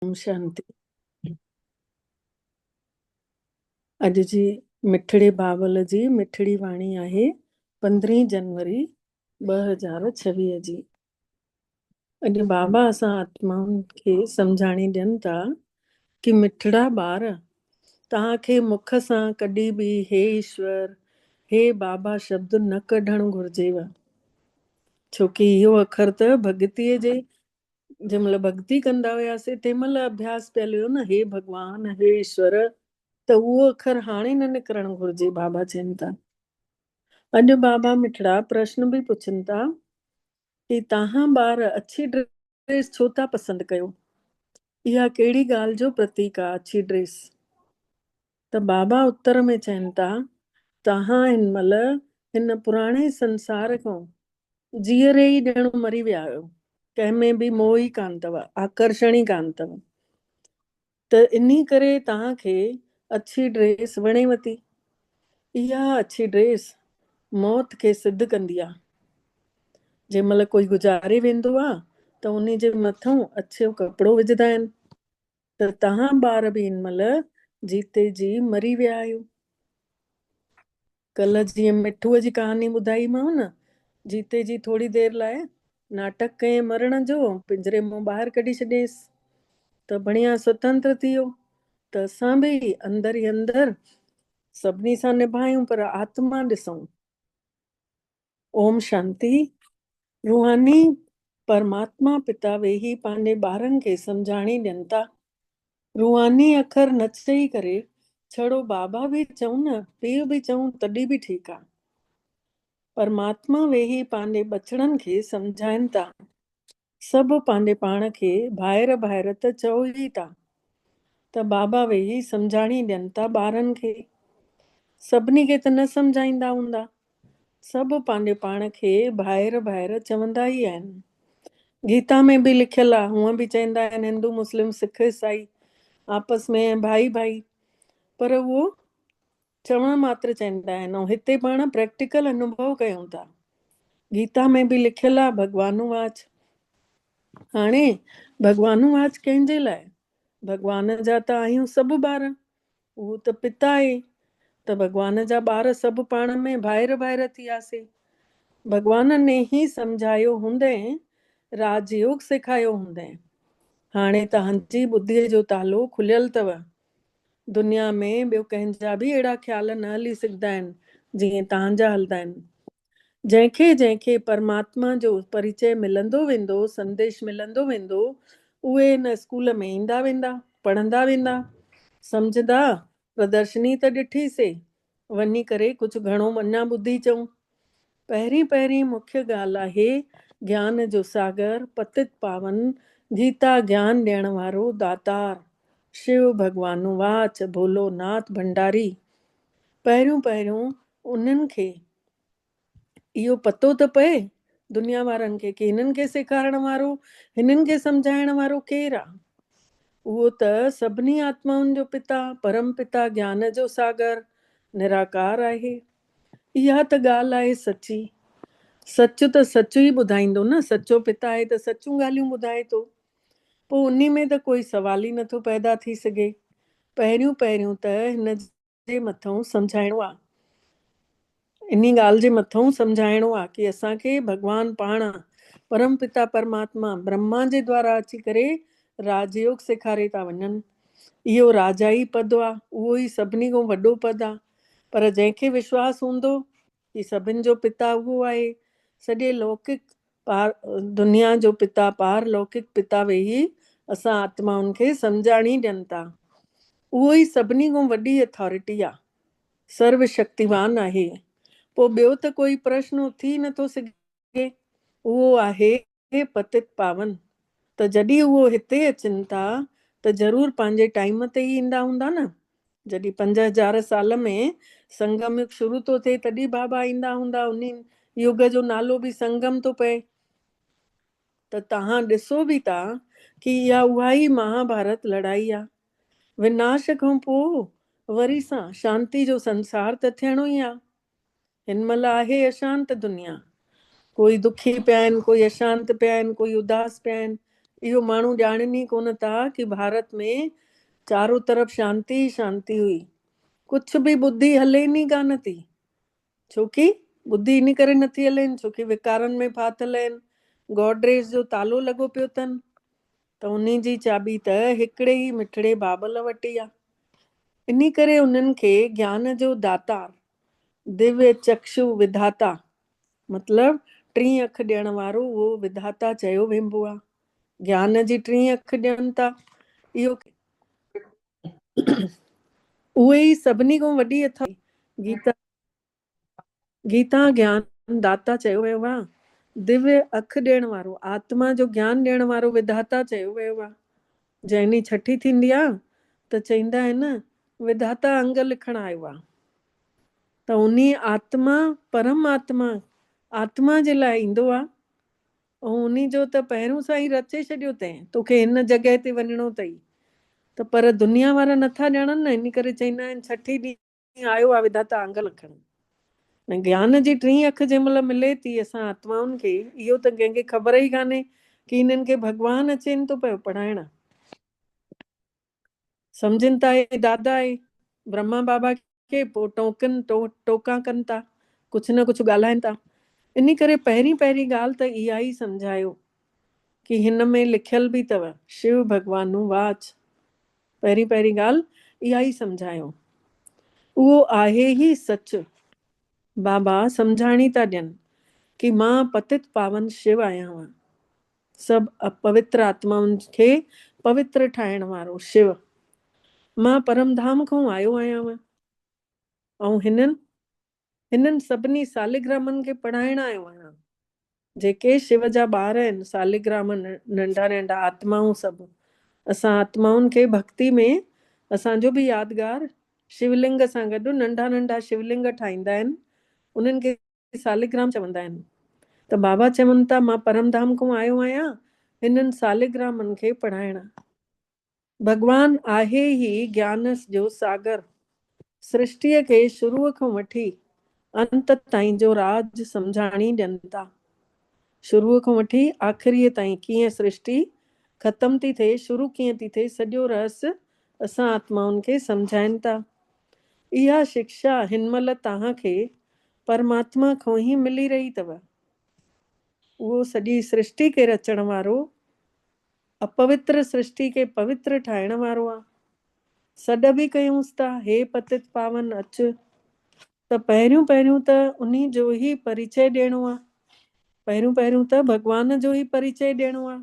اوم شانتي. اڄ جي مٺڙي بابل جي مٺڙي واڻي آهي پندرهين جنوري ٻه هزار ڇويهه جي. اڄ بابا اسان آتمائن کي سمجهاڻي ڏين ٿا ڪي مٺڙا ٻار توهان کي مک سان ڪڏي به هي ايشور هي بابا شبد نه ڪڍڻ گهرجيو ڇوڪي اهو اکر ته ڀڳتي جي جنهن مهل ڀڳتي ڪندا هياسي تنهن مهل اڀياس پيل هيو نه هي ڀڳوان هي ايشور ته اهو اکر هاڻي نه نڪرڻ گهرجي بابا چين ٿا اڄ بابا مٺڙا پرشن به پڇن ٿا ڪي تاهان ٻار اڇي ڊريس ڇو ٿا پسند ڪيو اها ڪهڙي ڳالهه جو پرتيڪ آ اڇي ڊريس ته بابا اتر ۾ چين ٿا، توهان هن مهل هن پراڻي سنسار کان جيئري ئي ڄڻ مري ويا آهيو، ڪنهن ۾ به موهه ئي ڪانه اٿو، آڪرشڻ ئي ڪانه اٿو، ته انهي ڪري توهان کي اڇي ڊريس وڻيو ٿي، اها اڇي ڊريس موت کي سڌ ڪندي آهي، جنهن مهل ڪوئي گذاري ويندو آهي ته انهي جي مٿئون اڇو ڪپڙو وجهندا آهن. ته توهان ٻار به ان مهل جيتي جي مري ويا آهيو. ڪلهه جيئن مٺوء جي ڪهاڻي ٻڌائيمانو نه، جيتي جي ٿوري دير لاء ناٽڪ ڪيئن مرڻ جو پڃري مان ٻاهر ڪڍي ڇڏيائينس ته بڻيا سوتنتر ٿي ويو ته اسان به اندر ئي اندر سڀني سان نڀايون پر آتما ڏسون. اوم شانتي، روحاني پرماتما پتا ويهي پنهنجي ٻارن کي سمجهاڻي ڏين ٿا. روحاني اکر نه چئي ڪري ڇڙو بابا به چئون نه پيء به چئون تڏهن به ٺيڪ آ. پرماتما ويهي پنهنجي ٻچڙن کي سمجهائين ٿا. سڀ پنهنجي پاڻ کي ڀائر ڀائر ته چئو ئي ٿا ته بابا ويهي سمجهاڻي ڏين ٿا ٻارن کي. سڀني کي ته نه سمجهائيندا هوندا. سڀ پنهنجي پاڻ کي ڀائر ڀائر چوندا ئي آهن. گيتا ۾ به لکيل آ، هونء به چئندا آهن هندو مسلم سک عيسائي آپس ۾ ۽ ڀائي ڀائي پر اهو چوڻ ماتر چئندا آهن ۽ هتي پاڻ پريڪٽيڪل انوڀو ڪيون ٿا. گيتا ۾ به لکيل آهي ڀڳوانو واچ. هاڻي ڀڳوانو واچ ڪنهن جي لاء؟ ڀڳوان جا ته آهيون سڀ ٻار. اهو ته پت آهي ته ڀڳوان جا ٻار سڀ پاڻ ۾ ڀائر ڀائر ٿياسين. ڀڳوان ني هي سمجهايو هوندئين، راج يوگ سيکايو هوندئين. هاڻي توهان جي ٻڌيء جو تالو کليل اٿو دنيا ۾ ٻيو ڪنهن جا به اهڙا خيال نه هلي سگهندا آهن، جيئن توهان جا هلندا آهن. جنهن کي جنهن کي پرماتما جو پريچئه ملندو ويندو، سنديش ملندو ويندو، اهي هن اسڪول ۾ ايندا ويندا، پڙهندا ويندا. سمجهندا، پردرشني ته ڏٺي سي، وڃي ڪري ڪجهه گهڻو اڃا ٻڌي چئون. پهرين پهرين مکيه ڳالهه آهي گيان جو ساگر، پتت پاون، گيتا گيان ڏيڻ وارو داتار، شيو ڀڳوان واچ ڀولو ناٿ ڀنڊاري. پهريون پهريون انهن کي اهو پتو ته پئي دنيا وارن کي ڪي هنن کي سيکارڻ وارو، هنن کي سمجهائڻ وارو ڪير آ؟ اهو ته سڀني آتمائن جو پتا، پرم پتا گيان جو ساگر، نراڪار آهي. اها ته ڳالهه آهي سچي. سچ ته سچ ئي ٻڌائيندو نه، سچو پتا آهي ته سچون ڳالهيون ٻڌائي ٿو. پوء انهي ۾ ته ڪوئي سوال ئي نٿو پيدا ٿي سگهي. پهريون پهريون ته هن جي مٿئون سمجهائڻو آ انهي ڳالهه جي مٿئون سمجهائڻو آ ڪي اسان کي ڀڳوان پاڻ پرم پتا پرماتما برهما جي دوارا اچي ڪري راج يوگ سيکاري ٿا وڃن اهو راجائي پد آ اهو ئي سڀني کان وڏو پد آ پر جنهن کي وشواس هوندو هي سڀن جو پتا اهو آهي. سڄي لوڪڪ پار دنيا جو پتا، پار لوڪڪ پتا ويهي اسان آتمائن کي سمجهاڻي ڏين ٿا. اهو ئي سڀني کان وڏي اٿارٽي آهي. سرو شڪتيوان آهي. پوء ٻيو ته ڪوئي پرشن اٿي ئي نٿو سگهي. اهو آهي. اهي پتت پاون ته جڏهن اهو هتي اچن ٿا ته ضرور پنهنجي ٽائيم تي ئي ايندا هوندا نه؟ جڏهن پنج هزار سال ۾ سنگم يگ شروع ٿو ٿئي تڏهن بابا ايندا هوندا انهي يگ جو نالو به سنگم ٿو پئي ته توهان ڏسو به ٿا ڪي اها اهائي مها ڀارت لڙائي آ وناش کان پوء وري سان شانتي جو سنسار ته ٿيڻو ئي آ هن مهل آهي اشانت دنيا. ڪوئي دکي پيا آهن، ڪوئي اشانت پيا آهن، ڪوئي اداس پيا آهن. اهو ماڻهو ڄاڻين ئي ڪونه ٿا ڪي ڀارت ۾ چارو طرف شانتي ئي شانتي هئي. ڪڇ به ٻڌي هلين ئي ڪانه ٿي. ڇو ڪي ٻڌي ان ڪري نه ٿي هلين ڇو ڪي ويڪارن ۾ ڦاٿل آهن. گوڊريج جو تالو لڳو پيو اٿن ته انهي جي چاٻي ته هڪڙي ئي مٺڙي بابل وٽ ئي آهي. انهي ڪري انهن کي گيان جو داتار ديويا چڪشو وڌاتا مطلب ٽين اک ڏيڻ وارو اهو وڌاتا چيو وينبو آهي. گيان جي ٽين اک ڏين ٿا اهو اهي ئي سڀني کان وڏي اٿائي گيتا گيتا گيان داتا چيو ويو آهي. ديويا اک ڏيڻ وارو آتما جو گيان ڏيڻ وارو وڌاتا چيو ويو آهي. جنهن ڏينهن ڇٺي ٿيندي آ ته چئيندا آهن وڌاتا انگ لکڻ آيو آ ته انهي آتما پرم آتما آتما جي لاء ايندو آ ۽ انهي جو ته پهريون سائين رچي ڇڏيو تين توکي هن جڳهه تي وڃڻو تئي ته پر دنيا وارا نٿا ڄاڻن نه انهي ڪري چئيندا آهن ڇٺي ڏينهن ڪيئن آيو آ وڌاتا آنگل اکن ۾ گيان جي ٽين اک جنهن مهل ملي ٿي اسان آتمائن کي اهو ته ڪنهن کي خبر ئي ڪانهي ڪي هنن کي ڀڳوان اچين ٿو پيو پڙهائڻ سمجهن ٿا هي دادا اهي برهما بابا کي پوء ٽوڪن ٽوڪا ڪن ٿا ڪجهه نه ڪجهه ڳالهائين ٿا انهي ڪري پهرين پهرين ڳالهه ته اها ئي سمجهايو ڪي هن ۾ لکيل به تؤ شو ڀڳوان نون واچ پهرين پهرين ڳالهه اها ئي سمجهايون اهو آهي ئي سچ بابا سمجهاڻي ٿا ڏين ڪي مان پتت پاون شو آهيان مان سڀ اپوتر آتمائن کي پوتر ٺاهڻ وارو شو مان پرم ڌام کان آيو آهيان مان ۽ هنن هنن سڀني ساليگرامن کي پڙهائڻ آيو آهيان. جيڪي شو جا ٻار آهن، ساليگرام، ننڍا ننڍا آتمائون سڀ، اسان آتمائن کي ڀڳتي ۾ اسان جو به يادگار شو لنگ سان گڏ ننڍا ننڍا شو لنگ ٺاهيندا آهن، انهن کي ساليگرام چوندا آهن. ته بابا چون ٿا مان پرم ڌام کان آيو آهيان هنن ساليگرامن کي پڙهائڻ. ڀڳوان آهي هي گيانس جو ساگر، سرشٽيء کي شروع کان وٺي انت تائين جو راز سمجهاڻي ڏين ٿا. شروع کان وٺي آخريء تائين ڪيئن سرشٽي ختم ٿي ٿئي، شروع ڪيئن ٿي ٿئي، سڄو رهس اسان آتمائن کي سمجهائين ٿا. اها شڪشا هن مهل توهان کي پرماتما کان ئي ملي رهي اٿو. اهو سڄي سرشٽي کي رچڻ وارو اپوتر سرشٽي کي پوتر ٺاهڻ وارو آ. سڏ به ڪيونس ٿا، هي پتت پاون اچ، ته پهريون پهريون ته انهي جو ئي پريچئي ڏيڻو آ. پهريون پهريون ته ڀڳوان جو ئي پريچئي ڏيڻو آ.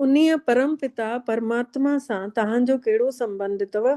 انهيء پرم پتا پرماتما سان توهان جو ڪهڙو سنبنڌ اٿو؟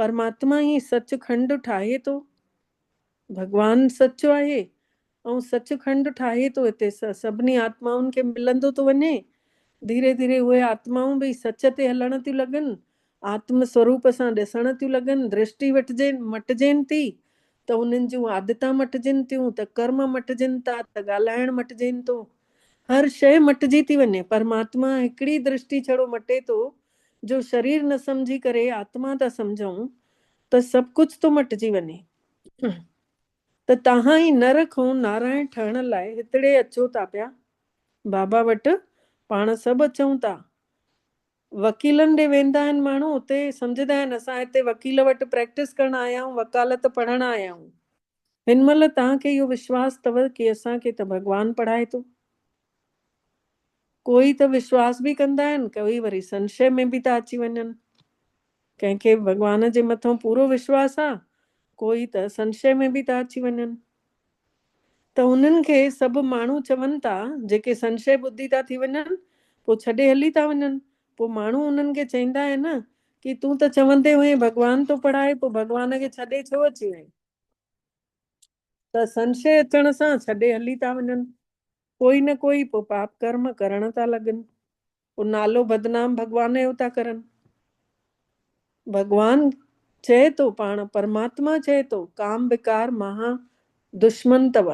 پرماتما ئي سچ کنڊ ٺاهي ٿو. ڀڳوان سچ آهي ۽ سچ کنڊ ٺاهي ٿو هتي سڀني آتمائن کي ملندو ٿو وڃي. ڌيري ڌيري اهي آتمائون به سچ تي هلڻ ٿيون لڳن، آتم سوروپ سان ڏسڻ ٿيون لڳن، درشٽي مٽجين ٿي ته انهن جون عادتان مٽجين ٿيون ته ڪرم مٽجين ٿا ته ڳالهائڻ مٽجين ٿو. هر شيء مٽجي ٿي وڃي. پرماتما هڪڙي درشٽي ڇڙو مٽي ٿو جو شرير نه سمجهي ڪري آتما ٿا سمجهون ته سڀ ڪجهه ٿو مٽجي وڃي ته تهان ئي نر کئون نارائڻ ٺهڻ لاء هتڙي اچو ٿا پيا بابا وٽ پاڻ سڀ اچون ٿا وڪيلن ڏي ويندا آهن ماڻهو اتي سمجهدا آهن اسان هتي وڪيل وٽ پريڪٽس ڪرڻ آيا آهيون وڪالت پڙهڻ آيا آهيون هن مهل توهان کي اهو وشواس اٿو ڪي اسان کي ته ڀڳوان پڙهائي ٿو. ڪوئي ته وشواس به ڪندا آهن ڪوئي وري سنشي ۾ به ٿا اچي وڃن. ڪنهن کي ڀڳوان جي مٿان پورو وشواس آ ڪوئي ته سنشي ۾ به ٿا اچي وڃن. ته انهن کي سڀ ماڻهو چون ٿا جيڪي سنشي ٻڌي ٿا ٿي وڃن پوء ڇڏي هلي ٿا وڃن پوء ماڻهو انهن کي چئندا آهن ڪي تون ته چوندي هئين ڀڳوان ٿو پڙهائي پوء ڀڳوان کي ڇڏي ڇو اچي وئين؟ ته سنشي اچڻ سان ڇڏي هلي ٿا وڃن. ڪوئي نه ڪوئي پوء پاپ ڪرم ڪرڻ ٿا لڳن. پوء نالو بدنام ڀڳوان جو ٿا ڪرن. ڀڳوان چئي ٿو پاڻ پرماتما چئي ٿو ڪام وڪار مها دشمن تئو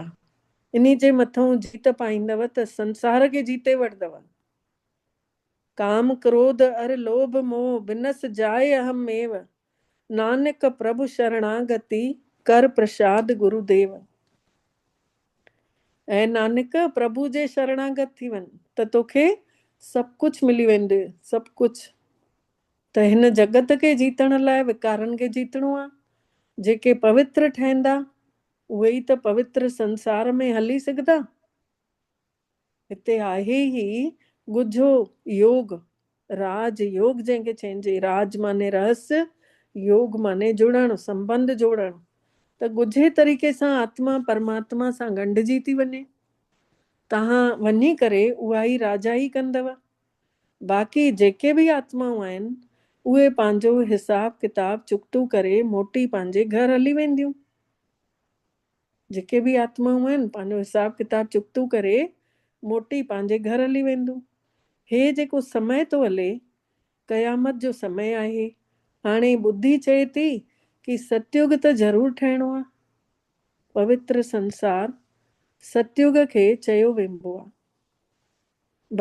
انهي جي مٿئون جيت پائيندئو ته سنسار کي جيتي وٺدئو. ڪام ڪروڌ ار لوڀ موھ بنس جائي اھم ميو نانڪ پرڀ شرڻاگتي ڪر پرشاد گرو ديو اي نانڪ پرڀو جي شرڻاگت ٿي وڃ ته توکي سڀ ڪجھ ملي ويندي سڀ ڪجھ ته ھن جڳت کي جيتڻ لاء وڪارن کي جيتڻو آ جيڪي پوتر ٺھندا اھي ئي ته پوتر سنسار ۾ ھلي سگھدا. هتي آهي هي ڳجهو يوگ، راج يوگ جنهن کي چئجي، راج معني رهس، يوگ معني جڙڻ، سنبنڌ جوڙڻ، ته ڳجهي طريقي سان آتما پرماتما سان ڳنڍجي ٿي وڃي. توهان وڃي ڪري اهائي راجائي ڪندؤ. باقي جيڪي به آتمائون آهن، اهي پنهنجو حساب ڪتاب چڪتو ڪري موٽي پنهنجي گهر هلي وينديون. جيڪي به آتمائون آهن، پنهنجو حساب ڪتاب چڪتو ڪري، موٽي پنهنجي گهر هلي وينديون. هي جيڪو سمئي ٿو هلي، قيامت جو سمئي آهي. هاڻي ٻڌي چئي ٿي ڪي ستيوڳ ته ضرور ٺهڻو آهي. پوتر سنسار، ستيوڳ کي چيو وينبو آهي.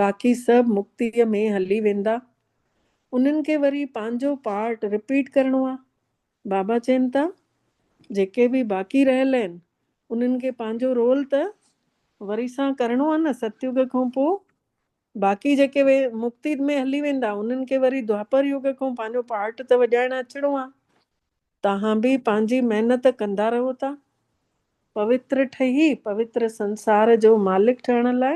باقي سڀ مڪتيء ۾ هلي ويندا. انهن کي وري پنهنجو پارٽ رپيٽ ڪرڻو آهي. بابا چين ٿا جيڪي به باقي رهيل آهن انهن کي پنهنجو رول ته وري سان ڪرڻو آهي نه ستيوگ کان پوء باقي جيڪي وي مڪتي ۾ هلي ويندا انهن کي وري دوآپر يوگ کان پنهنجو پارٽ ته وڄائڻ اچڻو آهي توهان به پنهنجي محنت ڪندا رهو ٿا پوتر ٺهي پوتر سنسار جو مالڪ ٺهڻ لاء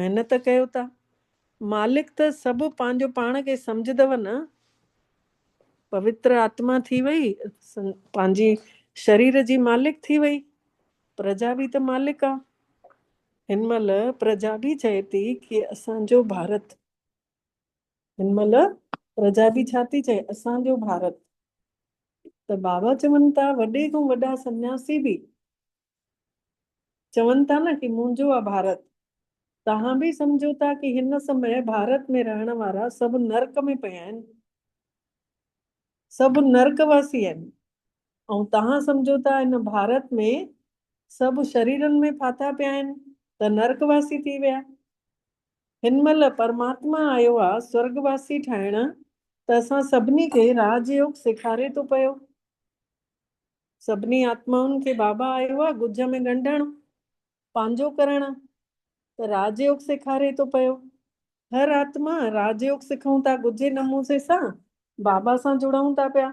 محنت ڪيو ٿا مالڪ ته سڀ پنهنجو پاڻ کي سمجهدو نه پوتر آتما ٿي وئي، پنهنجي شرير جي مالڪ ٿي وئي، پرجا به ته مالڪ آ. هن مهل پرجا به چئي ٿي ڪي اسان جو ڀارت. هن مهل پرجا به ڇا ٿي چئي اسان جو ڀارت. ته بابا چون ٿا وڏي کان وڏا سنياسي به چون ٿا نه ڪي منهنجو آ ڀارت. توهان به سمجهو ٿا ڪي هن سمي ڀارت ۾ رهڻ وارا سڀ نرڪ ۾ پيا آهن. سڀ نرڪ واسي آهن. ۽ توهان سمجهو ٿا هن ڀارت ۾ سڀ شريرن ۾ ڦاٿا پيا آهن ته نرڪ واسي ٿي ويا. هن مهل پرماتما آيو آ سورڳ واسي ٺاهڻ ته اسان سڀني کي راج يوگ سيکاري ٿو پيو. سڀني آتمائن کي بابا آيو آ ڳجهه ۾ ڳنڍڻ پنهنجو ڪرڻ ته راج يوگ سيکاري ٿو پيو هر آتما راج يوگ سکون ٿا ڳجهي نموسي سان بابا سان جڙئون ٿا پيا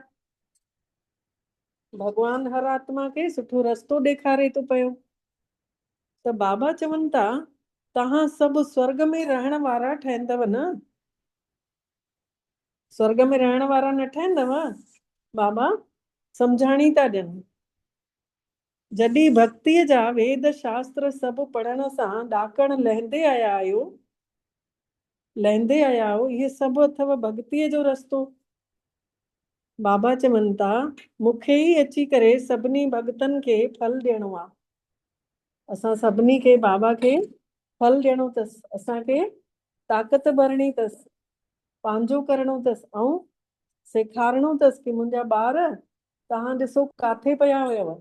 ڀڳوان هر آتما کي سٺو رستو ڏيکاري ٿو پيو ته بابا چون ٿا تهان سڀ سورڳ ۾ رهڻ وارا ٺهندو نه سرڳ ۾ رهڻ وارا نه ٺهندؤ، بابا سمجهاڻي ٿا ڏين. جڏهن ڀڳتيء جا ويد شاستر سڀ پڙهڻ سان ڏاڪڻ لهندي آيا آهيو، لهندي آيا آهيو، اهي سڀ اٿئو ڀڳتيء جو رستو. بابا چون ٿا، مون کي ئي اچي ڪري سڀني ڀڳتن کي ڦل ڏيڻو آ. اسان سڀني کي بابا کي ڦل ڏيڻو اٿس، اسان کي طاقت ڀرڻي تس، پنهنجو ڪرڻو تس ۽ سيکارڻو تس ڪي منهنجا ٻار توهان ڏسو ڪاٿي پيا هيو.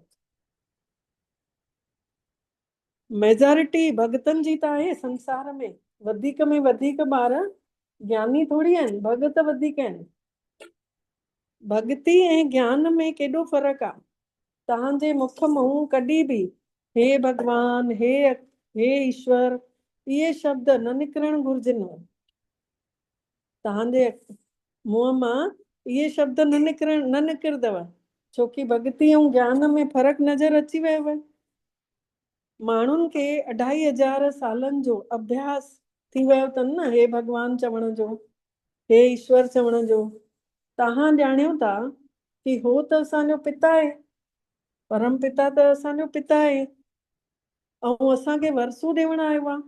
ميجارٽي ڀڳتن جي ته آهي سنسار ۾ وڌيڪ ۾ وڌيڪ ٻار گياني ٿوري آهن ڀڳت وڌيڪ آهن. ڀڳتي ۽ گيان ۾ ڪيڏو فرق آ. تنهن جي مک منهن ڪڏهن به هي ڀڳوان، هي هي ايشور اهي شبد نه نڪرڻ گهرجن. تنهن جي منهن مان اهي شبد نه نڪرڻ نه نڪردو ڇوڪي ڀڳتي ۽ گيان ۾ فرق نظر اچي ويو. ماڻهن کي اڍائي هزار سالن جو اڀياس ٿي ويو اٿن نه هي ڀڳوان چوڻ جو، هي ايشور چوڻ جو، تهان ڄاڻيو ٿا ڪي هو ته اسان جو پتا آهي، پرم پتا ته اسان جو پتا آهي ۽ اسان کي ورسو ڏيوڻ آيو آهي،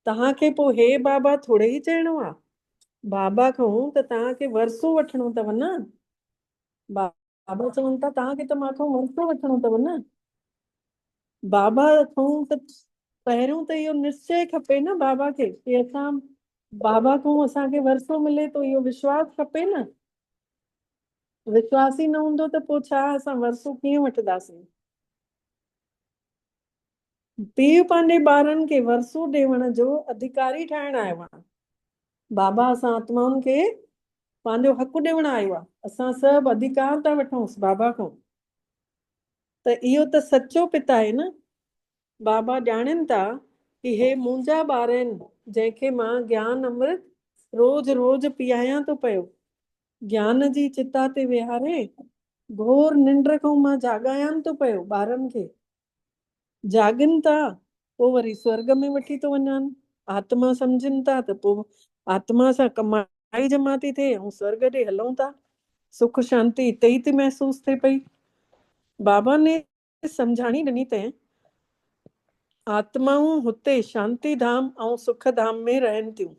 تهان کي پوء هي بابا ٿوڙي ئي چئڻو آهي، بابا کان ته تهان کي ورسو وٺڻو اٿو نه، بابا چون ٿا توهان کي ته مان کان ورثو وٺڻو اٿو نه. بابا کان ته پهريون ته اهو نشچي کپي نه بابا کي ڪي اسان بابا کان اسان کي ورثو ملي ٿو اهو وشواس کپي نه. وشواس ئي نه هوندو ته پوء ڇا اسان ورثو ڪيئن وٺنداسين. پيء پنهنجي ٻارن کي ورثو ڏيوڻ جو اڌڪاري ٺاهڻ آيو آهي. بابا اسان آتمائن کي پنهنجو حق ڏيوڻ آيو آهي. اسان سڀ اڌڪار ٿا وٺونس بابا کان. ته اهو ته سچو پت آهي نه. بابا ڄاڻين ٿا ته هي منهنجا ٻار آهن جنهن کي مان گيان امرت روز روز پيئايان ٿو پيو. گيان جي چتا تي ويهاري گهور ننڊ کان مان جاڳايان ٿو پيو ٻارن کي. جاڳن ٿا پوء وري سورڳ ۾ وٺي ٿو وڃان. آتما سمجهن ٿا ته پوء آتما سان ڪمائي جمع ٿي ٿئي ۽ سورڳ ڏي هلون ٿا. سک شانتي اتي ئي ٿي محسوس ٿئي پئي. بابا نيس سمجهاڻي ڏني ته آتمائون هتي شانتي ڌام ۽ سک ڌام ۾ رهن ٿيون.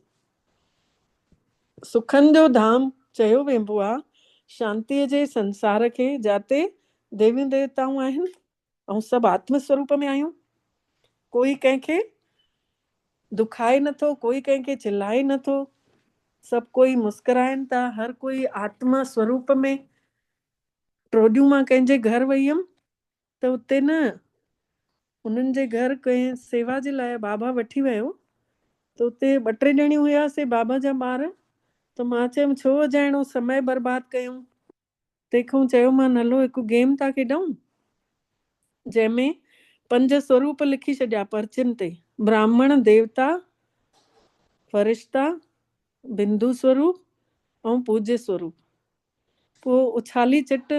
سکن جو ڌام چيو وينبو آهي شانتي جي سنسار کي جاتي ديويون ديوتائون آهن اهون سڀ آتم سوروپ ۾ آهيون. ڪوئي ڪنهن کي دکائي نه ٿو، ڪوئي ڪنهن کي چلائي نه ٿو، سڀ ڪوئي مسڪرائين ٿا، هر ڪوئي آتم سوروپ ۾. ٽوڏيون مان ڪنهن جي گهر وئي هيم ته اتي نه، انهن جي گهر ڪنهن سيوا جي لاء بابا وٺي ويو ته اتي ٻه ٽي ڄڻيون هياسين بابا جا ٻار ته مان چيم ڇو اجايڻو سمئي برباد ڪيون. تنهن کان چيومان هلو هڪ گيم ٿا کيڏئون جنهن ۾ پنج سوروپ لکي ڇڏيا پرچين تي براهمڻ ديوتا فرشتا بندو سوروپ ۽ پوجي سوروپ پوء اڇالي چٽ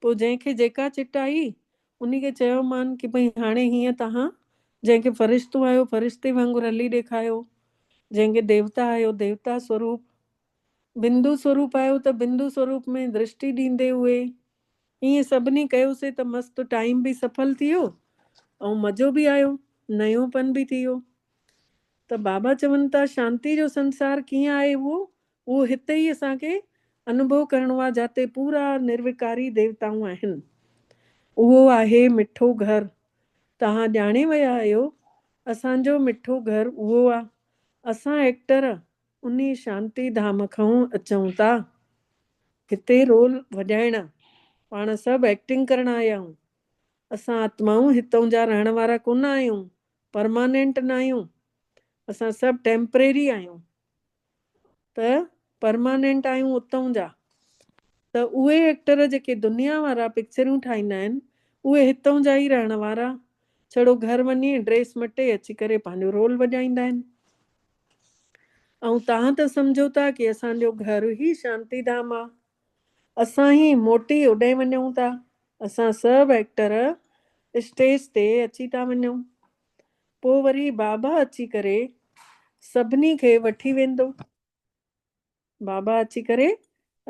پوء جنهن کي جيڪا چٽ آئي انهي کي چيومان ڪي ڀئي هاڻي هيئن توهان جنهن کي فرشتو آيو فرشتي وانگر هلي ڏيکايو جنهن کي ديوتا آيو ديوتا سوروپ بندو سوروپ آهيو ته بندو سوروپ ۾ درشٽي ڏيندي اهي ائين سڀني ڪيوسي ته مست ٽائيم به سڦل ٿي ويو ۽ مزو به آيو نيون پن به ٿي ويو ته بابا چون ٿا شانتي جو سنسار ڪيئن آهي اهو اهو هتي ئي اسان کي انڀو ڪرڻو آهي جاتي پورا نروڪاري ديوتائون آهن اهو آهي مٺو گهر توهان ڄاڻي ويا آهيو اسان جو مٺو گهر اهو آهي اسان ايڪٽر انهي شانتي ڌام کئون اچئون تا هتي رول وڄائڻا پاڻ سڀ ايڪٽنگ ڪرڻ آيا آهيون اسان آتمائون هتئون جا رهڻ وارا ڪونه آهيون پرمانينٽ ناهيون اسان سڀ ٽيمپريري آهيون ته پرمانينٽ آهيون اتئون جا ته اهي ايڪٽر جيڪي دنيا وارا پڪچريون ٺاهيندا آهن اهي هتئون جا ئي رهڻ وارا ڇڙو گهر وڃي ڊريس مٽي اچي ڪري پنهنجو رول وڄائيندا آهن ائون تهان ته سمجهو ٿا ڪي اسان جو گهر هي شانتي ڌام آ. اسان هي موٽي اوڏانهين وڃون ٿا. اسان سڀ ايڪٽر اسٽيج تي اچي ٿا وڃون. پو وري بابا اچي ڪري سڀني کي وٺي ويندو. بابا اچي ڪري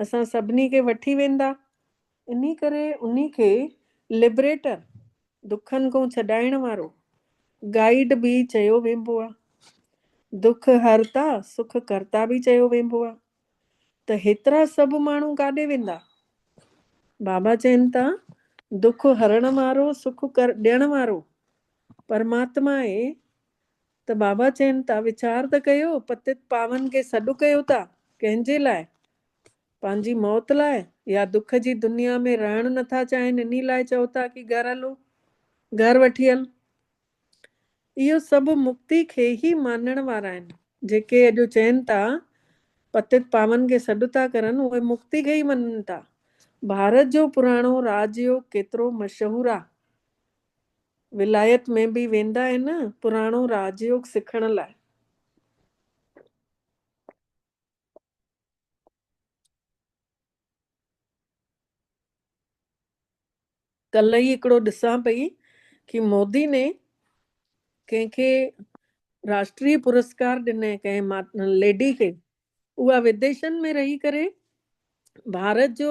اسان سڀني کي وٺي ويندا. انهي ڪري انهي کي لبريٽر، دکن کون ڇڏائڻ وارو، گائيڊ به چيو وينبو آ. دک هرتا، سک ڪرتا به چيو وينبو آ. ته هيترا سڀ ماڻهو ڪاڏي ويندا؟ بابا چين ٿا، دک هرڻ وارو، سک ڏيڻ وارو پرماتما آهي. ته بابا چين ٿا ويچار ته ڪيو، پتت پاون کي سڏ ڪيو ٿا، ڪنهن جي لاء؟ پنهنجي موت لاء يا دک جي دنيا ۾ رهڻ نه ٿا چاهين انهي لاء چئو ٿا ڪي گهر هلو، گهر وٺي هل. اهو سڀ مڪتي کي ئي مانڻ وارا آهن. جيڪي اڄ چين ٿا پتت پاون کي سڏ ٿا ڪرن اهي مڪتي کي ئي مڃن ٿا. ڀارت جو پراڻو راج يوگ ڪيترو مشهور آ ولايت ۾ به ويندا آهن پراڻو راج يوگ سکڻ لاء. ڪلهه ئي هڪڙو ڏسان پئي ڪي مودي ني ڪنهن کي راشٽري پرسڪار ڏني ڪنهن ليڊي کي اها وديشن ۾ رهي ڪري ڀارت جو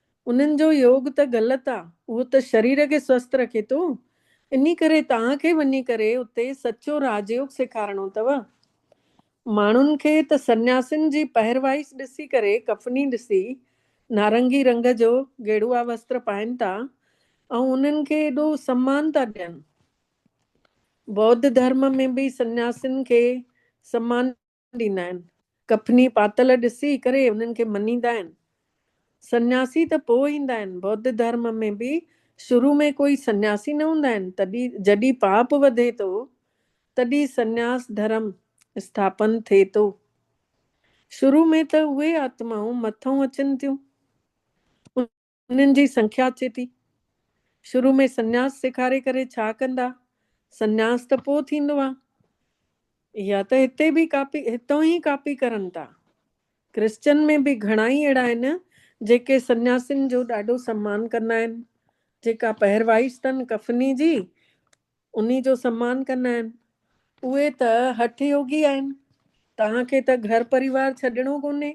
انهن جو يوگ ته غلط آ، اهو ته شرير کي سوست رکي ٿو، انهي ڪري توهان کي وڃي ڪري اتي سچو راجيوگ سيکارڻو اٿو. ماڻهن کي ته سنياسين جي پهروايس ڏسي ڪري ڪفني ڏسي، نارنگي رنگ جو گيڙوا وستر پائين ٿا ۽ انهن کي ايڏو سمان ٿا ڏين. ٻوڌ ڌرم ۾ به سنياسين کي سمان ڏيندا آهن. ڪفني پاتل ڏسي ڪري انهن کي مڃيندا آهن. سنياسي ته پوء ايندا آهن. ٻوڌ ڌرم ۾ به شروع ۾ ڪوئي سنياسي نه هوندا آهن. تڏهن جڏهن پاپ وڌي ٿو تڏهن سنياس ڌرم اسٿاپن ٿئي ٿو. شروع ۾ ته اهي آتمائون مٿئون اچن ٿيون. انهن جي سنکيا اچي ٿي. شروع ۾ سنياس سيکاري ڪري ڇا ڪندا؟ سنياس ته پوء ٿيندو آ. اها ته هتي به ڪاپي هتئون ئي ڪاپي ڪرن ٿا. ڪرسچن ۾ به گهڻا ئي اهڙا آهن جيڪي سنياسين جو ڏاڍو سمان ڪندا آهن. جيڪا پهروايش تن ڪفني جي انهي جو سمان ڪندا آهن. اهي ته هٺ يوگي آهن. توهان کي ته گهر پريوار ڇڏڻو ڪونهي.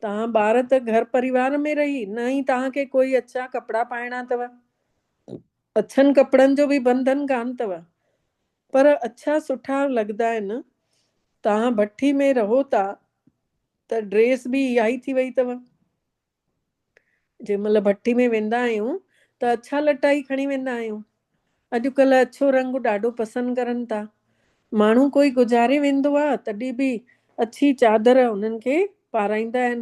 توهان ٻار ته گهر پريوار ۾ رهي نه ئي توهان کي ڪوئي اڇا ڪپڙا پائڻا اٿو. اڇن ڪپڙن جو به بنڌن ڪانه اٿو. پر اڇا سٺا لڳدا آهن. توهان ڀٺي ۾ رهو ٿا ته ڊريس به اها ئي ٿي وئي اٿو. جنهن مهل ڀٺي ۾ ويندا آهيون ته اڇا لٽا ئي کڻي ويندا آهيون. اڄ ڪلهه اڇو رنگ ڏاڍو پسند ڪرن ٿا. ماڻهو ڪوئي گذاري ويندو آ تڏهن به اڇي چادر انهن کي پارائيندا آهن.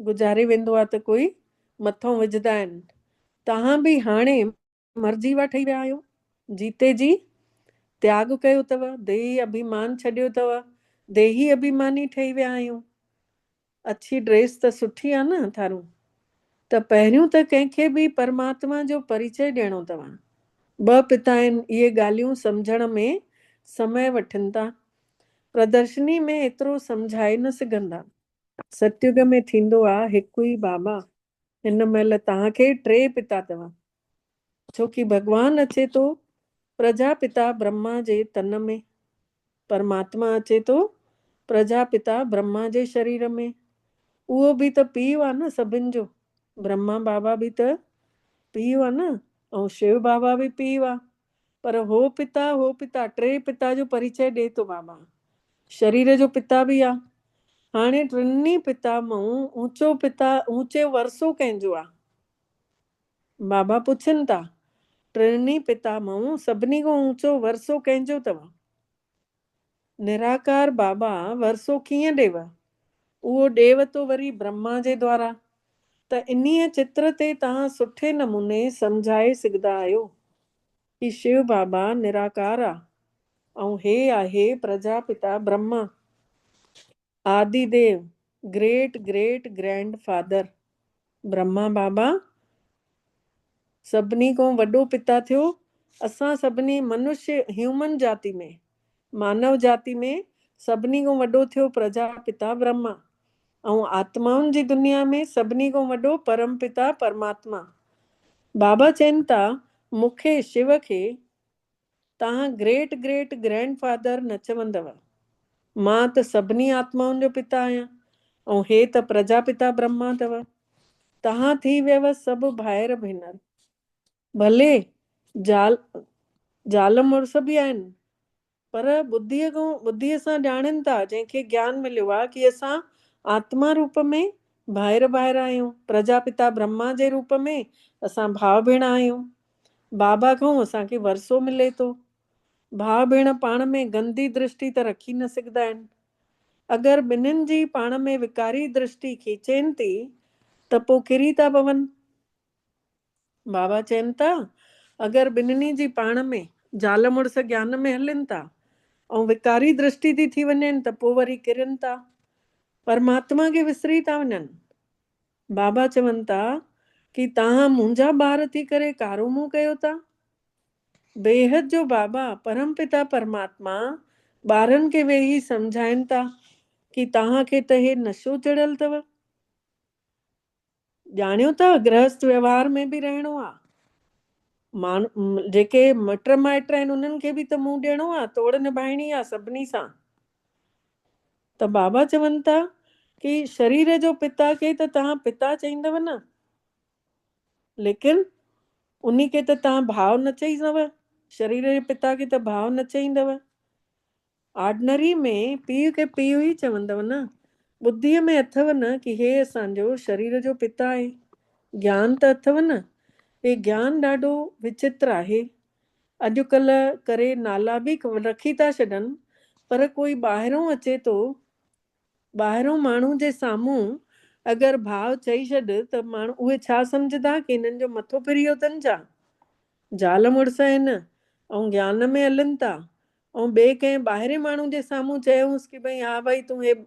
گذاري ويندو آ ته ڪوئي مٿئون وجهدا آهن. توهان به هاڻي مر جيوا ٺهي ويا آهيو. جيتي جي تياڳ ڪيو اٿو. ديهي اڀيمان ڇڏيو اٿو. ديهي اڀيماني ٺهي ويا آهيون. اڇي ڊريس ته سٺي آ نه ٿارون ته پهريون ته ڪنهن کي به پرماتما جو پريچئي ڏيڻو توهان ٻه پتا آهن اهي ڳالهيون سمجهڻ ۾ سمئي وٺن ٿا پردرشني ۾ ايترو سمجهائي نه سگهندا. ستيوڳ ۾ ٿيندو آ هڪ ئي بابا هن مهل توهان کي ٽي پتا توهان ڇوڪي ڀڳوان اچي ٿو پرجاپتا برهما جي تن ۾، پرماتما اچي ٿو پرجاپتا برهما جي شرير ۾، اهو به ته پيء آ نه سڀن جو، برهما بابا به ته پيء آ نه ۽ شو بابا به پيء آ، پر هو پتا هو پتا ٽي پتا جو پريچئي ڏئي ٿو بابا، شرير جو پتا به آ، هاڻي ٽنهي پتا مان اوچو پتا اوچو ورثو ڪنهن جو آ؟ بابا پڇن ٿا، ٽرني پتا مئون سڀني کان اوچو ورثو ڪنهن جو اٿئو؟ نراڪار بابا ورثو ڪيئن ڏيئو؟ اهو ڏيئو ٿو وري برهما جي دوارا. ته انهيء چتر تي توهان سٺي نموني سمجهائي سگهدا آهيو ڪي شيو بابا نراڪار آ ۽ هي آهي پرجا پتا Brahma. Adi Dev, great great grandfather, Brahma Baba سڀني کان وڏو پتا ٿيو. اسان سڀني منشي، هيومن جاتي ۾، مانو جاتي ۾، سڀني کان وڏو ٿيو پرجا پتا برهما ۽ آتمائن جي دنيا ۾ سڀني کان وڏو پرم پتا پرماتما. بابا چين ٿا، مون کي، شو کي، توهان گريٽ گريٽ گرينڊ فادر نه چوندؤ. مان ته سڀني آتمائن جو پتا آهيان ۽ هي ته پرجاپتا برهما اٿو. توهان ٿي ويئو سڀ ڀائر ڀينر. ڀلي زال زال مڙس به آهن پر ٻڌيء کان ٻڌيء سان ڄاڻين ٿا جنهن کي گيان مليو آهي ڪي اسان آتما روپ ۾ ڀائر ڀائر آهيون، پرجاپتا برهما جي روپ ۾ اسان ڀاء ڀيڻ آهيون. بابا کان اسان کي ورثو ملي ٿو. ڀاء ڀيڻ پاڻ ۾ گندي درشٽي ته رکي نه سگهدا آهن. اگر ٻنهين جي پاڻ ۾ وڪاري درشٽي کيچين ٿي ته پوء ڪري ٿا پون. بابا چين ٿا اگر ٻنهني جي پاڻ ۾ زال مڙس گيان ۾ هلين ٿا ۽ وڪاري درشٽي ٿي ٿي وڃين ته پوء وري ڪرين ٿا. پرماتما کي وسري ٿا وڃن. بابا چون ٿا ڪي تهان منهنجا ٻار ٿي ڪري ڪارو منهن ڪيو ٿا. بيحد جو بابا پرم پتا پرماتما ٻارن کي ويهي سمجهائين ٿا ڪي تهان کي ته هي نشو چڙهيل اٿو. ڄاڻيو ٿا گرهست ويوهار ۾ به رهڻو آ. ماڻ جيڪي مٽ مائٽ آهن انهن کي به ته منهن ڏيڻو آ توڙ نڀائڻي آ سڀني سان. ته بابا چون ٿا ڪي شرير جو پتا کي ته توهان پتا چئيندؤ نه ليڪن انهي کي ته توهان ڀاء نه چئيندؤ شرير جي پتا کي ته ڀاء نه چئيندؤ آرڊنري ۾ پيء کي پيء ئي چوندؤ نه ٻڌيء ۾ اٿئو نه ڪي هي اسان جو شرير جو پتا آهي گيان ته اٿئو نه هي گيان ڏاڍو وچتر آهي اڄڪلهه ڪري نالا به رکي ٿا ڇڏن پر ڪوئي ٻاهرون اچي ٿو ٻاهرون ماڻهو جي سامهون اگر ڀاء چئي ڇڏ ته ماڻهو اهي ڇا سمجهندا ڪي هنن جو مٿو ڦريو اٿن ڇا زال مڙس آهن ۽ گيان ۾ هلن ٿا ۽ ٻئي ڪنهن ٻاهرين ماڻهو جي سامهون چيونس ڪي ڀئي ها ڀائي تون هي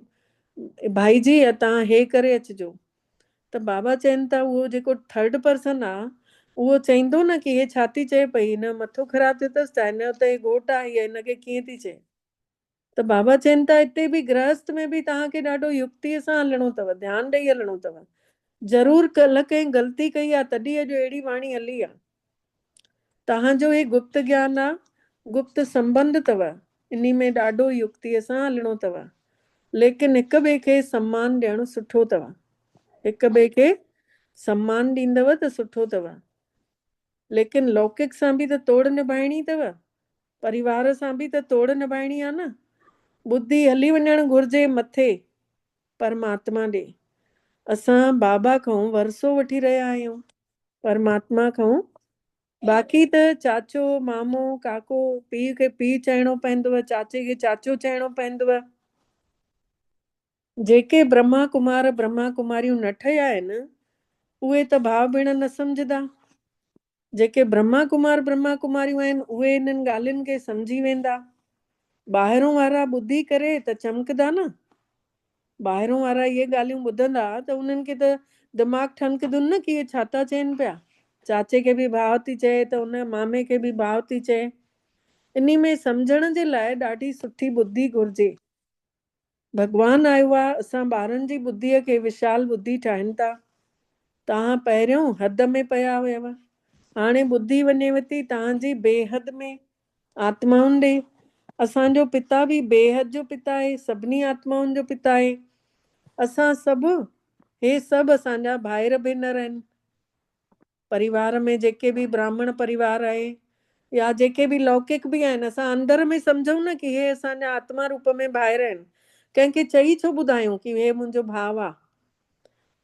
ڀائي جي اتان هي ڪري اچجو ته بابا چين ٿا اهو جيڪو ٿرڊ پرسن آ اهو چئيندو نه ڪي هي ڇا ٿي چئي پئي هن جو مٿو خراب ٿيو ٿس ڇا هن جو ته هي گهوٽ آ هيء هن کي ڪيئن ٿي چئي ته بابا چين ٿا اتي به گرهست ۾ به توهان کي ڏاڍو يڪتيء سان هلڻو اٿو ڌيان ڏئي هلڻو اٿو ضرور ڪلهه ڪنهن غلطي ڪئي آ تڏهن اڄ اهڙي واڻي هلي آ. توهان جو هي گپت گيان آ، گپت سنبنڌ تؤ، انهي ۾ ڏاڍو يڪتيء سان هلڻو تؤ، ليڪن هڪ ٻئي کي سمان ڏيڻ سٺو تؤ. هڪ ٻئي کي سمان ڏيندؤ ته سٺو تؤ. ليڪن لوڪڪ سان به ته توڙ نڀائڻي تؤ. پريوار سان به ته توڙ نڀائڻي آ نه. ٻڌي هلي وڃڻ گهرجي مٿي، پرماتما ڏي. اسان بابا کئون ورثو وٺي رهيا آهيون. پرماتما کائون باقي ته چاچو مامو ڪاڪو پيء کي پيء چئڻو پوندو چاچي کي چاچو چئڻو پوندو جيڪي برهما ڪمار برهما ڪماريون نه ٺهيا آهن اهي ته ڀاء ڀيڻ نه سمجهدا جيڪي برهما ڪمار برهما ڪماريون آهن اهي انهن ڳالهين کي سمجهي ويندا ٻاهرون وارا ٻڌي ڪري ته چمڪدا نه ٻاهرون وارا اهي ڳالهيون ٻڌندا ته انهن کي ته دماغ ٺڻڪدن نه ڪي ڇا ٿا چين پيا. چاچي کي به ڀاء ٿي چئي ته ان مامي کي به ڀاء ٿي چئي. انهي ۾ سمجهڻ جي لاء ڏاڍي سٺي ٻڌي گهرجي. ڀڳوان آيو آ اسان ٻارن جي ٻڌيء کي وشال ٻڌي ٺاهين ٿا. توهان پهريون حد ۾ پيا هيو هاڻي ٻڌي وڃيوٿي توهان جي بي حد ۾ آتمائن ڏي، اسان جو پتا به بيحد جو پتا آهي، سڀني آتمائن جو پتا آهي. اسان سڀ، هي سڀ اسان جا ڀائر ڀينر آهن. پريوار ۾ جيڪي به براهمڻ پريوار آهي يا جيڪي به لوڪڪ به آهن، اسان اندر ۾ سمجهون نه ڪي هي اسان جا آتما روپ ۾ ڀائر آهن. ڪنهن کي چئي ڇو ٻڌايون ڪي هي منهنجو ڀاء آ.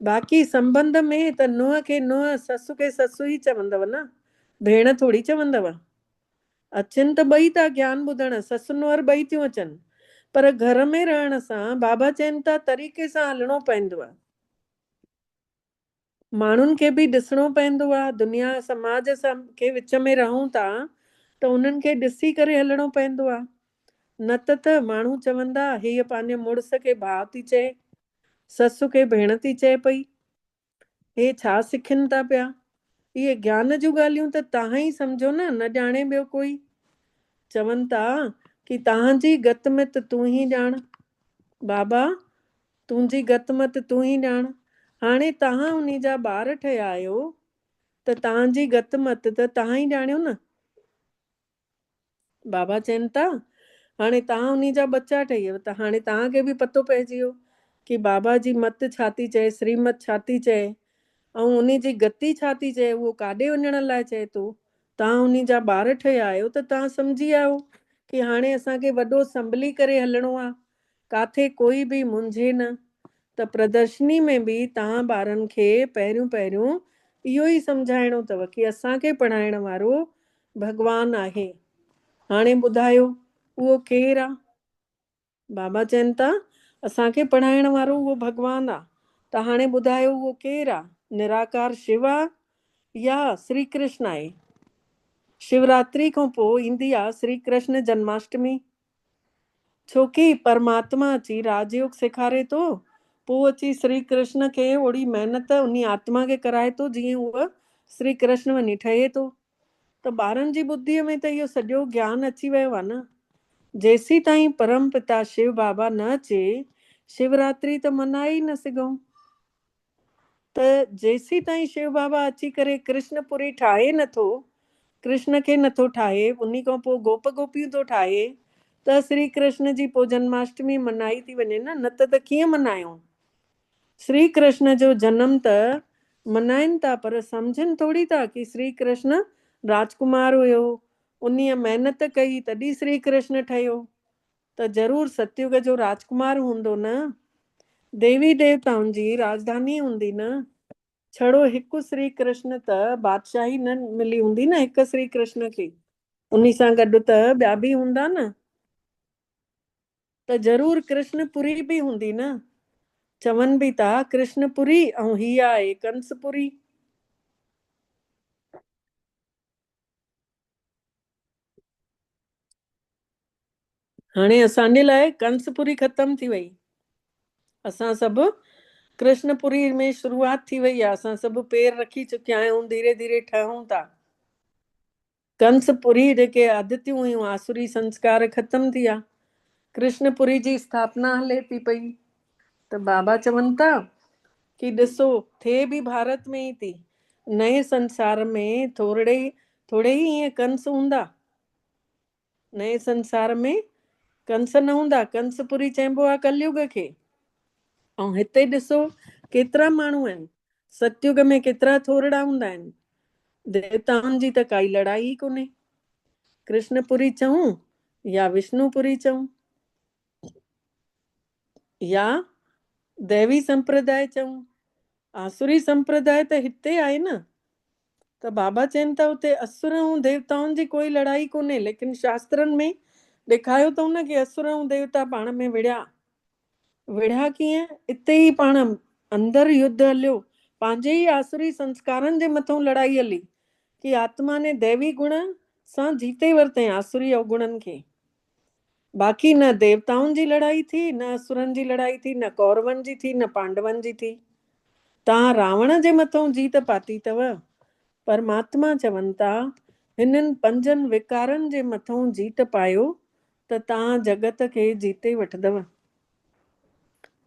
باقي سنبنڌ ۾ ته نونهن کي نونهن، سس کي سس ئي چوندو نه، ڀيڻ ٿوري چوندو. اچن ته ٻئي ٿا گيان ٻڌڻ، سس نوهر ٻئي ٿيون اچن. پر گهر ۾ رهڻ سان بابا چين ٿا طريقي سان هلڻو پوندو آهي. ماڻهن کي به ڏسڻو پوندو آهي. دنيا سماج سان ڪي وچ ۾ رهون ٿا ته انهن کي ڏسي ڪري هلڻو پوندو آهي. نه ته ته ماڻهو چوندا هيء پنهنجي مڙس کي ڀاء ٿي چئي، سس کي ڀيڻ ٿي چئي پئي. اهي ڇا سکين ٿا پيا؟ اهي گيان جون ڳالهيون ته تهان ئي سمجهو نه، نه ڄاڻي ٻيو ڪوئي. چون ٿا ڪي تهان جي گت مت تون ئي ڄاڻ. بابا! تنهنجي گت مت تون ئي ڄاڻ. هاڻي تهان انهي جا ٻار ٺهيا آهيو ته تهان جي گت مت ته تهان ئي ڄاڻيو نه. بابا چين ٿا، هاڻي توهان انهي جا ٻچا ٺهيو ته هاڻي توهان کي به پتو پئجي ويو ڪي بابا جي مت ڇا ٿي چئي، سريمت ڇا ٿي چئي ۽ انهي جي گتي ڇا ٿي چئي، اهو ڪاڏي وڃڻ لاء چئي ٿو. توهان انهي جا ٻار ٺهيا آهيو ته توهان سمجهي آهيو ڪي هاڻي اسان کي وڏو سنڀلي ڪري هلڻو آهي ڪاٿي ڪوئي به منجهي نه ته پردرشني ۾ به توهان ٻارن کي پهريون پهريون اهو ئي سمجهائڻو اٿو ڪي اسان کي پڙهائڻ وارو ڀڳوان آهي. هاڻي ٻڌايو اهو ڪير آ؟ بابا چين ٿا اسان کي پڙهائڻ وارو اهو ڀڳوان آ ته هاڻي ٻڌايو اهو ڪير آ؟ نراڪار شو آ يا سري ڪرشن آهي؟ شوراتري کان پوء ايندي آ سري ڪرشن جنماشٽمي ڇو ڪي پرماتما اچي راج يوگ سيکاري ٿو، پوء اچي سري ڪرشن کي اوڙي محنت انهي آتما کي ڪرائي ٿو جيئن هوء سري ڪرشن وڃي ٺهي ٿو. ته ٻارن جي ٻڌيء ۾ ته اهو سڄو گيان اچي ويو آهي نه. جيسين تائين پرم پتا شو بابا نه اچي شو راتري ته منائي ئي نه سگهون. ته جيسيتائين شو بابا اچي ڪري ڪرشن پوري ٺاهي نٿو، ڪرشن کي نٿو ٺاهي، انهي کان پوء گوپ گوپيون ٿو ٺاهي ته سري ڪرشن جي پوء جنماشٽمي منائي ٿي وڃي نه، نه ته ته ڪيئن منايون؟ سري ڪرشن جو جنم ته منائين ٿا پر سمجهن ٿوري ٿا ڪي سري ڪرشن راجڪمار هيو، انهي محنت ڪئي تڏهين سري ڪرشن ٺهيو، ته ضرور ستيوگ جو راجڪمار هوندو نه؟ ديوي ديوتائن جي راجڌاني هوندي نه؟ ڇڙو هڪ سري ڪرشن ته بادشاهي نه ملي هوندي نه هڪ سري ڪرشن کي؟ انهي سان گڏ ته ٻيا به هوندا نه؟ ته ضرور ڪرشن پوري به هوندي نه؟ چون به ٿا ڪرشن پوري ۽ هي آهي ڪنس پوري. هاڻي اسان جي لاء ڪنس پوري ختم ٿي وئي اسان سڀ ڪرشن پوري ۾ شروعات ٿي وئي آ اسان سڀ پير رکي چڪيا آهيون ڌيري ڌيري ٺهون ٿا ڪنس پوري جيڪي آدتيون هيون آسوري سنسڪار ختم ٿي آ ڪرشن پوري جي اسٿاپنا هلي ٿي پئي ته بابا چون ٿا ڪي ڏسو ٿئي به ڀارت ۾ ئي ٿي، نئين سنسار ۾ ٿورڙي ٿورڙي ئي ائين ڪنس هوندا، نئين سنسار ۾ ڪنس نه هوندا، ڪنس پوري چئبو آهي ڪليوگ کي، ۽ هتي ڏسو ڪيترا ماڻهو آهن، ستيوگ ۾ ڪيترا ٿورڙا هوندا آهن، ديوتائن جي ته ڪائي لڙائي ئي ڪونهي، ڪرشن پوري چئون يا وشنو پوري چئون. يا ديوي سمپرداء چئون. آسوري سمپرداء ته هتي آهي نه. ته بابا چين ٿا اتي اسور ۽ ديوتائن جي ڪوئي لڙائي ڪونهي ليڪن شاسترن ۾ ڏيکايو اٿئون نه ڪي اسور ۽ ديوتا پاڻ ۾ وڙهيا. وڙهيا ڪيئن؟ اتي ئي پاڻ اندر يڌ هليو. پنهنجي ئي آسوري سنسڪارن جي مٿئون لڙائي هلي. ڪي آتما ني ديوي گڻ سان جيتي ورتئين آسوري اوگڻن کي. باقي نه ديوتائن جي لڙائي ٿي، نه اسورن جي لڙائي ٿي، نه ڪورون جي ٿي، نه پانڊون جي ٿي. توهان راوڻ جي مٿئون جيت پاتي اٿو. پرماتما چون ٿا، هنن پنجن وڪارن جي مٿئون جيت پايو ته توهان جڳت کي جيتي وٺندؤ.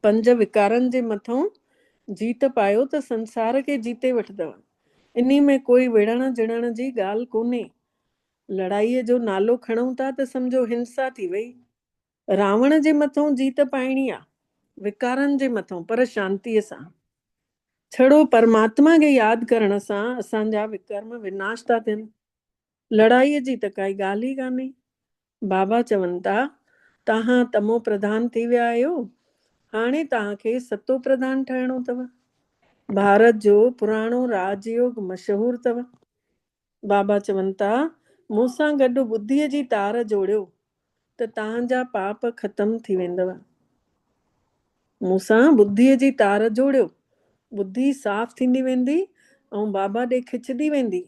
پنج وڪارن جي مٿئون جيت پايو ته سنسار کي جيتي وٺندؤ. انهي ۾ ڪوئي وڙهڻ جڙهڻ جي ڳالهه ڪونهي. لڙائيء جو نالو کڻون ٿا ته سمجهو هنسا ٿي وئي. راوڻ جي مٿئون جيت پائڻي آ، وڪارن جي مٿئون، پر شانتيء سان. ڇڙو پرماتما کي ياد ڪرڻ سان اسان جا وڪرم وناش ٿا ٿين. لڙائيء جي ته ڪائي ڳالهه ئي ڪانهي. بابا چون ٿا، توهان تمو پرڌان ٿي ويا آهيو، هاڻي توهان کي ستو پرڌان ٺهڻو اٿو. ڀارت جو پراڻو راج يوگ مشهور اٿو. بابا چون ٿا، مون سان گڏ ٻڌيء جي تار جوڙيو ته توهان جا پاپ ختم ٿي ويندؤ. مون سان ٻڌيء جي تار جوڙيو، ٻڌي صاف ٿيندي ويندي ۽ بابا ڏي کچندي ويندي.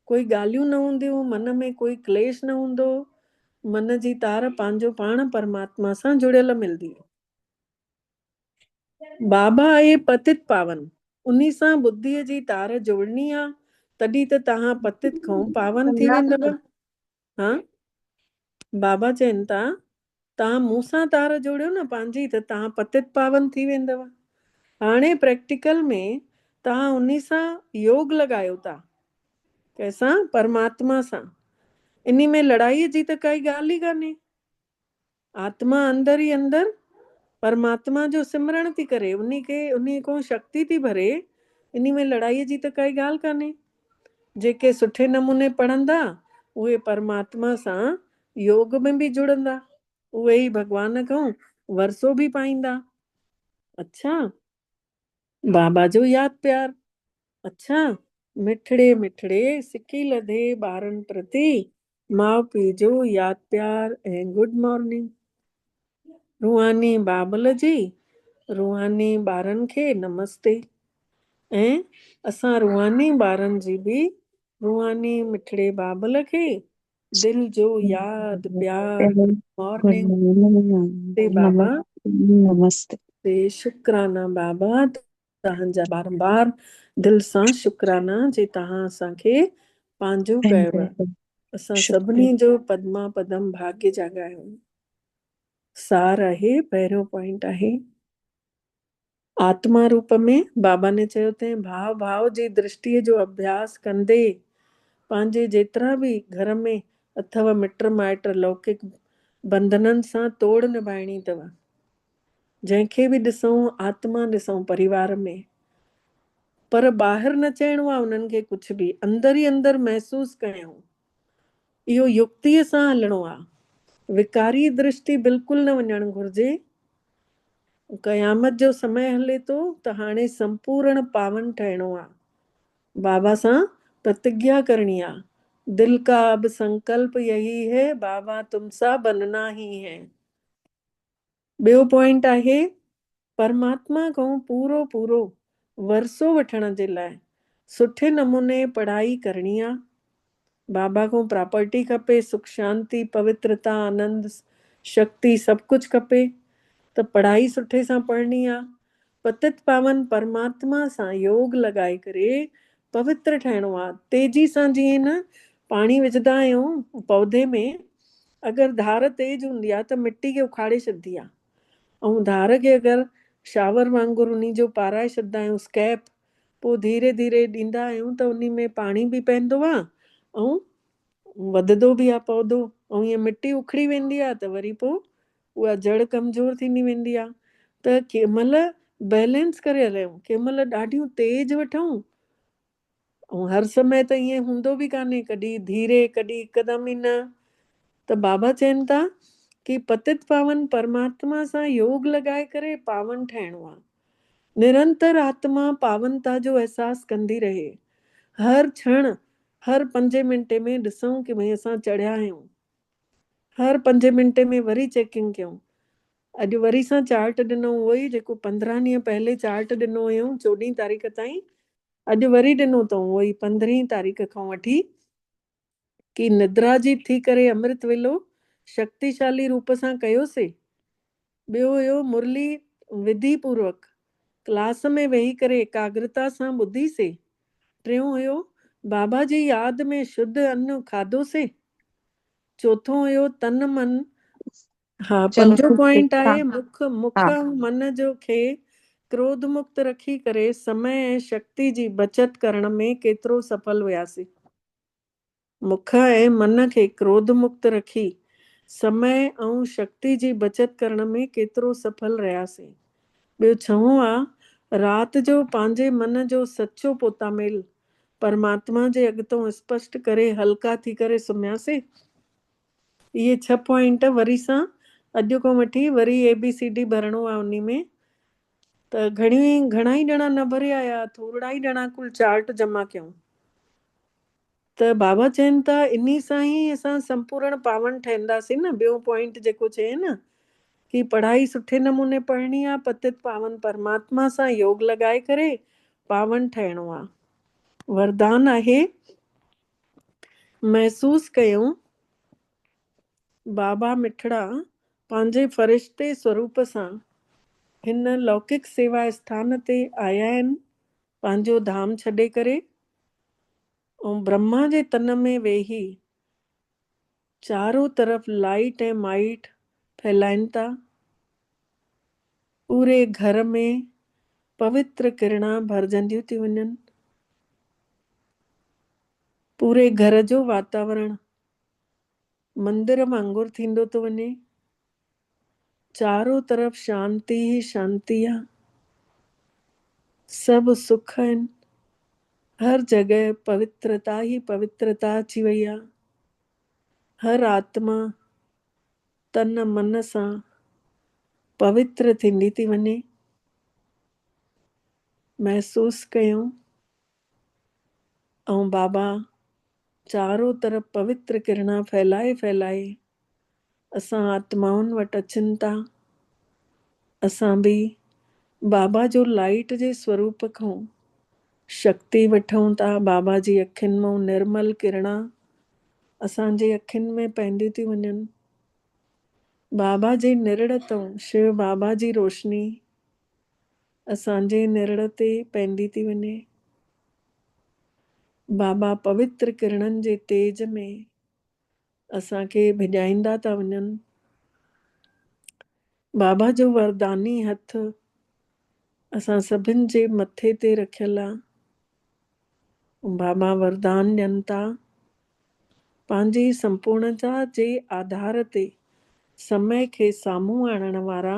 ڪوئي ڳالهيون نه هونديون، من ۾ ڪوئي ڪليش نه هوندو، من جي تار پنهنجو پاڻ پرماتما سان جڙيل ملندي. بابا اهي پتت پاون، انهي سان ٻڌيء جي تار جوڙڻي آ، تڏهن ته توهان پتت کئون پاون ٿي ويندؤ. ها بابا چين ٿا، توهان مون سان تار جوڙيو نه پنهنجي ته توهان پتت پاون ٿي ويندؤ. هاڻي پريڪٽيڪل ۾ توهان انهي سان يوگ لڳايو ٿا. ڪنهن سان؟ پرماتما سان. انهي ۾ لڙائيء جي ته ڪائي ڳالهه ئي ڪانهي. آتما اندر ئي اندر پرماتما جو سمرڻ ٿي ڪري، انهي کي انهي کون شڪتي ٿي ڀري، انهي ۾ لڙائي جي ته ڪائي ڳالهه ڪانهي. جيڪي سٺي نموني پڙهندا، اهي پرماتما سان يوگ ۾ به جڙندا، اهي ئي ڀڳوان کون ورسو به پائيندا. اڇا! بابا جو ياد پيار. اڇا! مٺڙي مٺڙي سڪي لڌي ٻارن پرتي ماء پيء جو ياد پيار ۽ گڊ مارننگ. روحاني بابل جي روحاني ٻارن کي نمستي ۽ اسان روحاني ٻارن جي به روحاني مٺڙي بابل کي دل جو ياد پيار گڊ مارننگ نمستي بابا نمستي شڪرانا بابا توهان جا بارمبار دل سان شڪرانا جي توهان اسان کي پنهنجو ڪيو اسان سڀني جو پدما پدم ڀاگي جاڳايو سار آهي پهريون پوائنٽ آهي آتما روپ ۾ بابا ني چيو تين ڀاء ڀاء جي درشٽي جو اڀياس ڪندي پنهنجي جيترا به گهر ۾ اٿو مٽ مائٽ لوڪڪ بندنن سان توڙ نڀائڻي اٿو جنهن کي به ڏسئون آتما ڏسئون پريوار ۾، پر ٻاهر نه چئڻو آهي انهن کي ڪجهه به، اندر ئي اندر محسوس ڪيائون. اهو يڪتيء سان هلڻو آهي. وڪاري درشٽي بلڪل نه وڃڻ گهرجي. قيامت جو سمي هلي ٿو ته هاڻي سمپورڻ پاون ٺهڻو آهي. بابا سان پرتگيا ڪرڻي آهي. دل ڪا اب سنڪلپ يهي هي بابا تم سا بننا هي هي. ٻيو پوائنٽ آهي پرماتما کان پورو پورو ورثو وٺڻ جي لاء سٺي نموني پڙهائي ڪرڻي آ. بابا کان پراپرٽي کپي، سک شانتي، پوترتا، آنند، شڪتي سڀ ڪجهه کپي ته پڙهائي سٺي سان پڙهڻي آ. پتت پاون پرماتما سان يوگ لڳائي ڪري پوتر ٺهڻو آ تيزي سان جيئن نه پاڻي وجهدا آهيون پودي ۾ اگر ڌار تيز هوندي آ ته مٽي کي اکاڙي ڇڏدي آ ائون ڌار کي اگر شاور وانگر انهي جو پارائي ڇڏدا آهيون اسڪيپ پو ڌيري ڌيري ڏيندا آهيون ته انهي ۾ پاڻي به پئندو آ ۽ وڌدو به آ پودو ائون ائين مٽي اکڙي ويندي آ ته وري پو اها جڙ ڪمزور ٿيندي ويندي آهي ته ڪنهن مهل بيلنس ڪري هليون، ڪنهن مهل ڏاڍيون تيز وٺون ۽ هر سمي ته ائين هوندو به ڪانهي، ڪڏهن ڌيري، ڪڏهن هڪدم ئي نه ته بابا چين ٿا ڪي پتت پاون پرماتما سان يوگ لڳائي ڪري پاون ٺهڻو آهي. نرنتر آتما پاونتا جو احساس ڪندي رهي. هر ڇڻ، هر پنجين منٽين ۾ ڏسون ڪي ڀئي اسان چڙهيا آهيون. هر پنجين منٽي ۾ وري چيڪنگ ڪيائون. اڄ وري سان چارٽ ڏنو اهو ئي جيڪو پندرهن ڏينهن پهلي چارٽ ڏنو هيائون چوڏهين تاريخ تائين. اڄ وري ڏنو تئون اهو ئي پندرهين تاريخ کان وٺي ڪي ندرا جي ٿي ڪري امرت ويلو شڪتيشالي روپ سان ڪيوسي. ٻيو هيو مرلي وڌي پوروڪ ڪلاس ۾ ويهي ڪري ايڪاگرتا سان ٻڌي سي. ٽيون هيو بابا جي ياد ۾ شڌ ان کاڌو سي. چوٿون هيو تن من. ها پنجون پوائنٽ آهي مک مک ۽ من جو کي ڪروڌ مڪت رکي ڪري سمئي ۽ شڪتي جي بچت ڪرڻ ۾ ڪيترو سڦل هياسي. مک ۽ من کي ڪروڌ مڪت رکي سمئي ۽ شڪتي جي بچت ڪرڻ ۾ ڪيترو سڦل رهياسين. ٻيو ڇهون آ رات جو پنهنجي من جو سچو پوتاميل پرماتما جي اڳتون اسپشٽ ڪري هلڪا ٿي ڪري سمهياسين. اهي ڇهه پوائنٽ وري سان اڄ کان وٺي وري اي بي سي ڊي ڀرڻو آ انهي ۾ ته گهڻي گهڻا ئي ڄڻا نه ڀريا يا ٿورڙا ئي ڄڻا ڪل چارٽ جمع ڪيون. ته بابا چين ٿا انهي سان ئي اسان سمپورڻ پاون ٺهنداسين نه ٻيون پوائنٽ جيڪو چئين نه ڪي پڙهائي سٺي نموني پڙهڻي آ پتت پاون پرماتما سان يوگ لڳائي ڪري پاون ٺهڻو آ وردان آهي محسوس ڪيون بابا مٺڙا پنهنجي فرشتي سوروپ سان هن لوڪڪ سيوا اسٿان تي آيا آهن پنهنجو ڌام ڇڏي ڪري ۽ برهما جي تن ۾ ويهي چارو طرف لائيٽ ۽ مائيٽ ڦهلائين ٿا. پوري گهر ۾ پوتر ڪرڻا ڀرجنديون ٿيون وڃن. پوري گهر جو واتاورڻ مندر وانگر ٿيندو ٿو وڃي. چارو طرف شانتي ئي شانتي آ. سڀ سک آهن. هر جڳهه پوترتا ئي پوترتا اچي وئي آ. هر آتما تن من سان پوتر ٿيندي ٿي وڃي. محسوس ڪيون ائون بابا چارو طرف پوتر ڪرڻا ڦهلائي ڦهلائي اسان آتمائن وٽ اچن ٿا. اسان به بابا جو لائيٽ جي سوروپ کون شڪتي وٺون ٿا. بابا جي اکين مئون نرمل ڪرڻا اسان جي اکين ۾ پئنديون ٿيون وڃن. بابا جي نرڙ تئون شو بابا جي روشني اسان جي نرڙ تي پئندي ٿي وڃي. بابا پوتر ڪرڻن جي تيز ۾ اسان کي ڀڄائيندا ٿا وڃن. بابا جو ورداني هٿ اسان سڀن جي مٿي تي رکيل آ. بابا وردان ڏين ٿا. پنهنجي سمپورڻتا جي آڌار تي سمئي کي سامهون آڻڻ وارا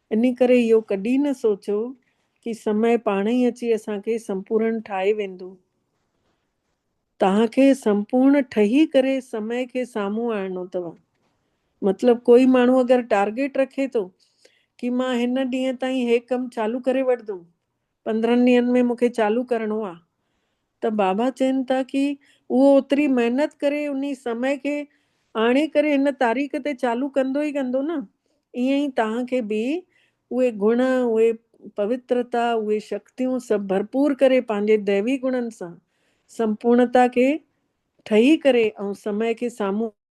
انهي ڪري اهو ڪڏهن نه سوچو ڪي سمي پاڻ ئي اچي اسان کي سمپورڻ ٺاهي ويندو. توهان کي سمپورڻ ٺهي ڪري سمي کي سامهون آڻڻو اٿو. مطلب ڪوئي ماڻهو اگر ٽارگيٽ رکي ٿو ڪي مان هن ڏينهن تائين هي ڪم چالو ڪري وٺدم پندرهن ڏينهن ۾ مون کي چالو ڪرڻو آ ته بابا چين ٿا ڪي اهو اوتري محنت ڪري انهي سمئي کي آڻي ڪري هن تاريخ تي چالو ڪندو ئي ڪندو نه ائين ئي توهان کي به اهي گڻ اهي پوترتا اهي شڪتيون سڀ ڀرپور ڪري پنهنجي ديوي گڻن سان سمپورڻتا کي ٺهي ڪري ۽ سمئي کي سامهون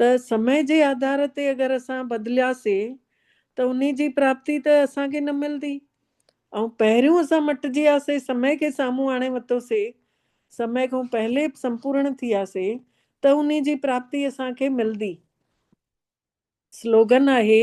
ته سمي جي آڌار تي اگر اسان بدلياسين ته انهي جي پراپتي ته اسان کي نه ملندي ۽ پهريون اسان مٽجي وياسين سمي کي سامهون آڻي وتوسي سمي کان پهلي سمپورڻ ٿي وياسي ته انهي جي پراپتي اسان کي ملندي. سلوگن آهي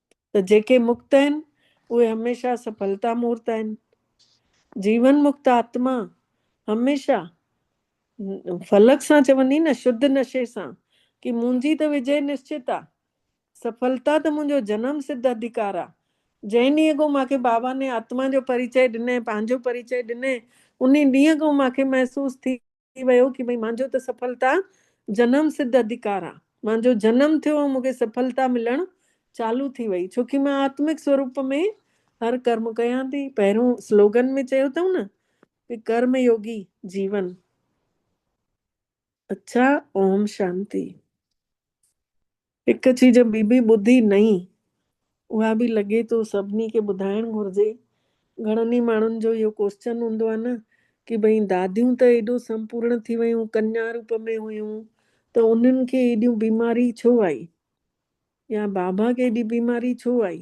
ته جيڪي مڪت آهن، اهي هميشه سڦلتا مورت آهن. جيون مڪت آتما هميشه فلڪ سان چوندي نه شڌ نشي سان ڪي منهنجي ته وجئي نشچت آ، سڦلتا ته منهنجو جنم سڌ اڌڪار آ. جنهن ڏينهن کان مان کي بابا ني آتما جو پريچئي ڏنئين، پنهنجو پريچئي ڏنئين، انهي ڏينهن کان مان کي محسوس ٿي. ٿي ويو ڪي ڀئي مانجو ته سڦلتا جنم سڌ اڌڪار آ مانجو جنم ٿيو ۽ مونکي سڦلتا ملڻ چالو ٿي وئي ڇوڪي مان آتمڪ سوروپ ۾ هر ڪرم ڪيان ٿي پهريون سلوگن ۾ چيو اٿئون نه ڪي ڪرم يوگي جيون اڇا اوم شانتي. هڪ چيز ٻي به ٻڌي نئين، اها به لڳي ٿو سڀني کي ٻڌائڻ گهرجي. گهڻن ئي ماڻهن جو اهو ڪوسچن هوندو آهي نه ڪي ڀئي داديون ته ايڏو سمپورڻ ٿي ويون، ڪنيا روپ ۾ هيون ته انهن کي ايڏيون بيماري ڇو آئي يا بابا کي ايڏي بيماري ڇو آئي؟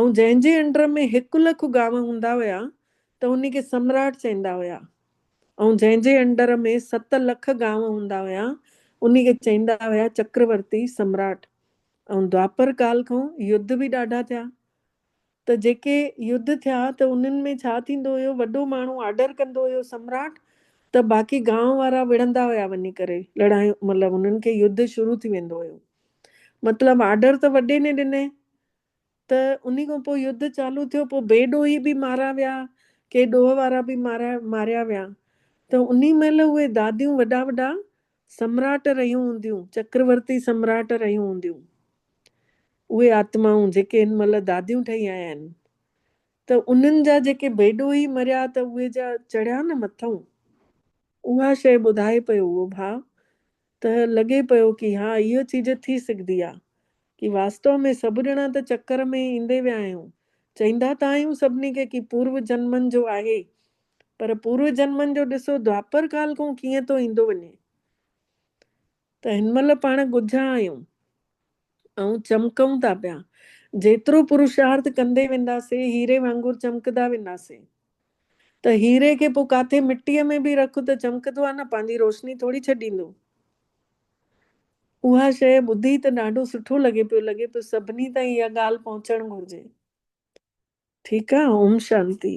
۽ جنهن جي انڊر ۾ هڪ لک گانو هوندا هيا ته ان کي سمراٽ چئيندا هيا ۽ جنهن جي انڊر ۾ ست لک گانو هوندا هيا ان کي چئيندا هيا چڪرورتي سمراٽ ۽ دواپر ڪال کان يڌ به ڏاڍا ٿيا ته جيڪي يڌ ٿيا ته انهن ۾ ڇا ٿيندو هيو وڏو ماڻهو آرڊر ڪندو هيو سمراٽ ته باقي گانو وارا وڙهندا هيا وڃي ڪري لڙايون مطلب انهن کي يڌ شروع ٿي ويندو هيو. مطلب آرڊر ته وڏي ني ڏني ته انهي کان پوء يڌ چالو ٿيو پوء بي ڏوهي به مارا ويا ڪي ڏوهه وارا به ماريا ويا ته انهي مهل اهي داديون وڏا وڏا سمراٽ رهيون هونديون چڪرورتي سمراٽ رهيون هونديون اهي آتمائون جيڪي هن مهل داديون ٺهي آيا آهن ته انهن جا جيڪي بي ڏوهي مريا ته اهي جا چڙهيا نه مٿئون اها شيء ٻڌائي پيو اهو ڀاء ته لڳي پيو ڪي ها اهو چيز ٿي سگهدي آ ڪي واستو ۾ سڀ ڄڻا ته چڪر ۾ ايندي ويا آهيون چئيندا ته آهيون سڀني کي ڪي پورو جنمن جو آهي پر پورو جنمن جو ڏسو دوآپر ڪال کون ڪيئن ٿو ايندو وڃي ته هن مهل پاڻ ڳجها آهيون آئون چمڪون ٿا پيا. جيترو پروشارٿ ڪندي وينداسين، هيري وانگر چمڪدا وينداسين. ته هيري کي پوء ڪاٿي مٽيء ۾ به رک ته چمڪندو آ نه، پنهنجي روشني ٿوري ڇڏيندو. اها شيء ٻڌي ته ڏاڍو سٺو لڳي پيو، لڳي پيو سڀني تائين اها ڳالهه پهچڻ گهرجي. ٺيڪ آ، اوم شانتي.